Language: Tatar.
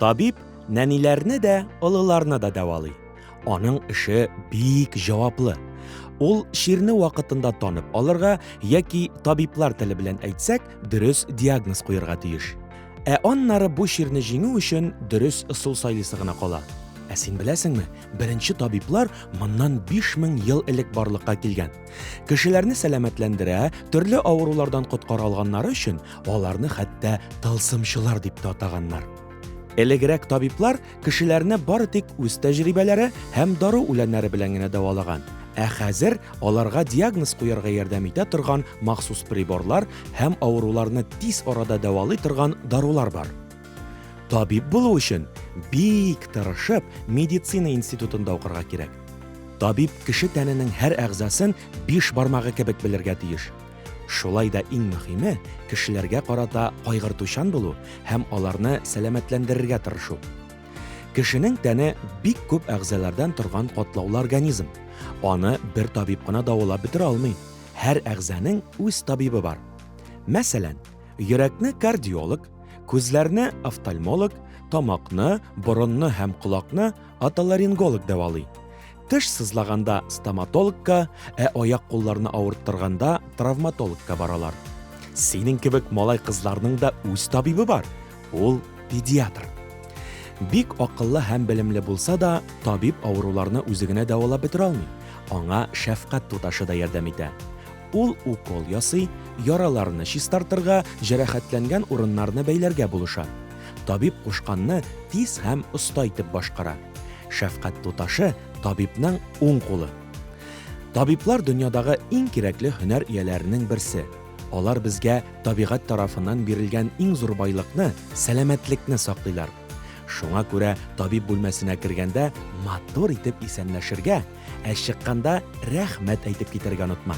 Табиб нәниләрне дә, олыларны да дәвалый. Аның эше бик җаваплы. Ул ширне вакытында танып алырга яки табиблар теле белән әйтсәк, дөрес диагноз куярга тиеш. Ә аннары бу чирне җиңү өчен дөрес ысул сайлыйсы гына кала. Ә син беләсеңме, беренче табиблар моннан 5000 ел элек барлыкка килгән. Кешеләрне сәламәтләндерә, төрле авырулардан коткара алганнары өчен аларны хәтта тылсымчылар дип тә атаганнар. Элегрәк табиблар кешеләрне бары тик үз тәҗрибәләре һәм дару үләннәре белән генә дәвалаган. Ә хәзер аларга диагноз куярга ярдәм итә торган махсус приборлар һәм авыруларны тиз арада дәвалый торган дарулар бар. Табиб булу өчен бик тырышып медицина институтында укырга кирәк. Табиб кеше тәненең һәр әгъзасын биш бармагы кебек белергә тиеш. Шулай да иң мөһиме, кешеләргә карата кайгыртучан булу һәм аларны сәламәтләндерергә тырышу. Кешенең тәне бик күп әгъзалардан торган катлаулы организм. Аны бер табиб кына давалап бетерә алмый. Һәр әгъзаның үз табибы бар. Мәсәлән, йөрәкне кардиолог, күзләрне офтальмолог, тамакны, борынны һәм колакны отоларинголог дәвалый. Теш сызлаганда стоматологка, ә аяк-кулларны авырттырганда травматологка баралар. Синең кебек малай-кызларның да үз табибы бар. Ул педиатр. Бик акыллы һәм белемле булса да, табиб авыруларны үзе генә дәвалап бетерә алмый. Аңа шәфкать туташы да ярдәм итә. Ул укол ясый, яраларны чистартырга, җәрәхәтләнгән урыннарны бәйләргә булыша. Табиб кушканны тиз һәм оста итеп башкара. Шәфкать туташы, табибның уң кулы. Табиблар дөньядагы иң кирәкле һөнәр ияләренең берсе. Алар безгә табигать тарафыннан бирелгән иң зур байлыкны, сәламәтлекне саклыйлар. Шуңа күрә табиб бүлмәсенә кергәндә матур итеп исәнләшергә, Ә чыкканда рәхмәт әйтеп китәргә онытма.